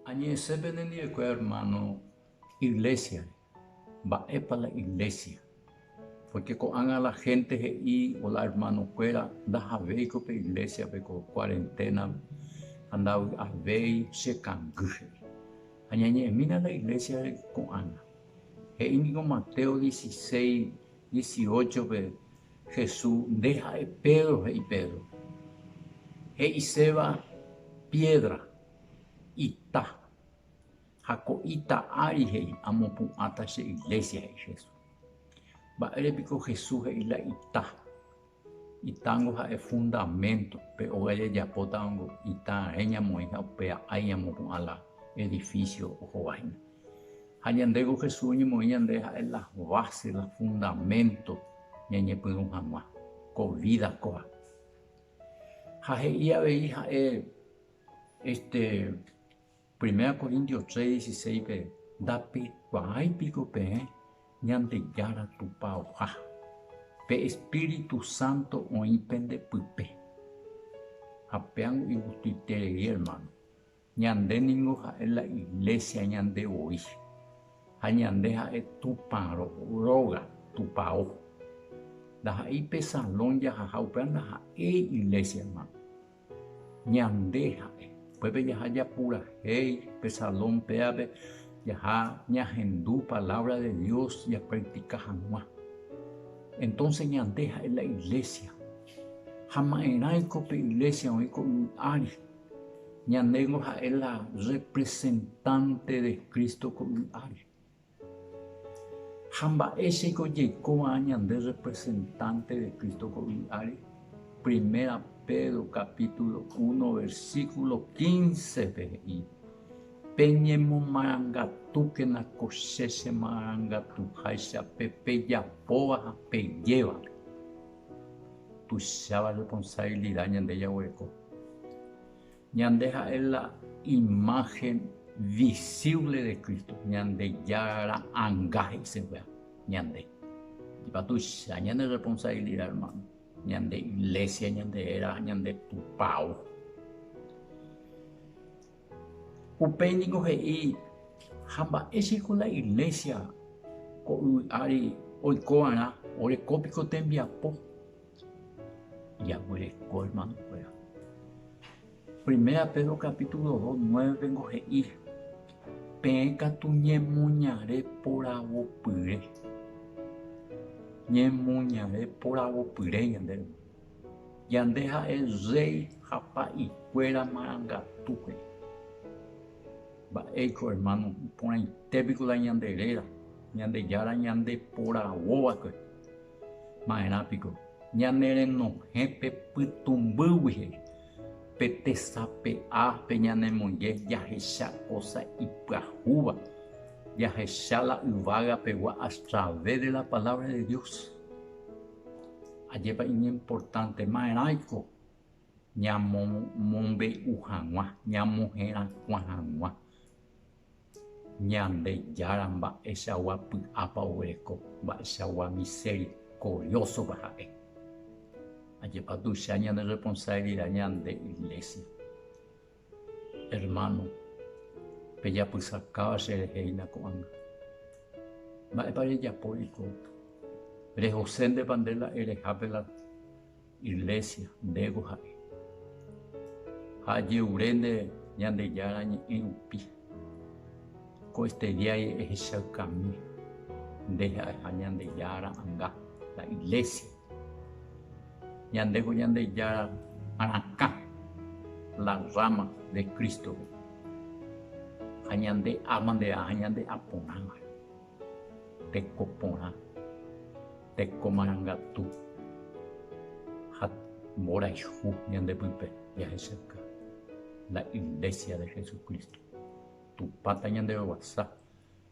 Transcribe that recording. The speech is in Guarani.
Añe'ẽse penendivekuéra ermáno iglésiare. Mba'épa la iglésia? Pórke ko'ág̃a la hénte he'i la ermanokuéra ndahavéiko pe iglésiape ko kuarenténape ha ndavy'avéi chekangy, he'i. Ha ñañe'ẽmína la iglésiare ko'ág̃a. He'i ningo Mateo dieciséis dieciochope. Jesús nde ha'e Pedro he'i Pedro. He'iséva piédra, ita. Ha ko ita ári he'i, Amopu'ãta che iglésia, he'i Jesús. Mba'ére piko Jesús he'i la ita? Itángo ha'e fundamento, pe óga jajapótava ita reñamoĩ ha upe a'ái ñamopu'ã la edifísio ohovahína. Ha ñande ku Jesús oñemoĩ ñande ha'e la base, la fundamento ñañepyrũ hag̃ua ko vida kóva. Ha he'i avei ha'e este Primera Corintios tres, dieciséis-pe, Ndapekuaái piko peẽ Ñandejára Tupãoha, pe Espíritu Santo oĩ pende pype. Ha péango igustuiterei, hermano. Ñande ningo ha'e la Iglésia ñande voi, ha ñande ha'e Tupã róga, Tupao. Ndaha'éi pe salón jahaha upéva ndaha'éi Iglésia, ermáno. Ñande ha'e. Upépe jaha japurahéi pe salón pévape, jaha ñahendu palávra de Dios japraktika hag̃ua. Entónse ñande ha'e la Iglésia. Ha ma'erãiko pe Iglésia oĩ ko yvy ári? Ñandéiko ha'e la representante de Cristo ko'y ári. Ha mba'éichaiko jaiko va'erã ñande representante de Cristo ko'y ári? Primera Pedro capítulo uno versículo quince-pe he'i, Peñemomarangatúkena ko che chemarangatuháicha pe pejapóva ha pejévape. tuicháva responsabilidad ñande jaguereko. Ñande ha'e la imagen visible de Cristo, Ñandejára ra'anga he'iseguéva ñande. Ndipo tuicha ñane responsabilidad hermano, ñande iglesia, ñande héra, ñande tupao. Upéi ningo he'i, Ha mba'éichako la iglésia ko yvy ári oikova'erã oreko piko tembiapo? Jaguereko ermanokuéra. Primera Pedro capítulo dos, nueve ningo he'i, Peẽ katu ñemoñare poravopyre. Ñemoñare poravopyre ñande. Ñande ha'e rréi ha pa'ikuéra marangatúpe. Mba'éiko, ermáno, iporãite piko la ñande réra, Ñandejára ñande poravo va'ekue. Ma'erã piko, ñanerenohẽ pe pytũmbýgui he'i, Pe tesape'a pe ñanemoinge jahecha kósa ipyahúva, jahecha la yvága pegua a través de la Palabra de Dios. Ajépa iñimportantemaeraiko ñamomombe'u hag̃ua, ñamoherakuã hag̃ua Ñandejára mba'eichagua py'ápa oguereko, mba'eichagua miserikoriósopa ha'e. Ajépa tuicha ñanerresponsabilida ñande Iglésia. Hermano, pejapysakáva cherehe hína ko'ág̃a. Mba'épa rejapóriko? Rehoséntepa nde la erehápe la Iglésia, ndégo ha'e. Ha aje'ure nde Ñandejára Ñe'ẽ rupi. Ko estediái ehechaykami nde ha'eha Ñandejára anga, la Iglésia. Ñande ko Ñandejára arakã, la rama de Cristo, ha ñande alma nde aja ñande aporãva, teko porã, teko marangatu ha mborayhu ñande pype jahechakuaa, la Iglesia de Jesucristo. Tupãta ñande roguasa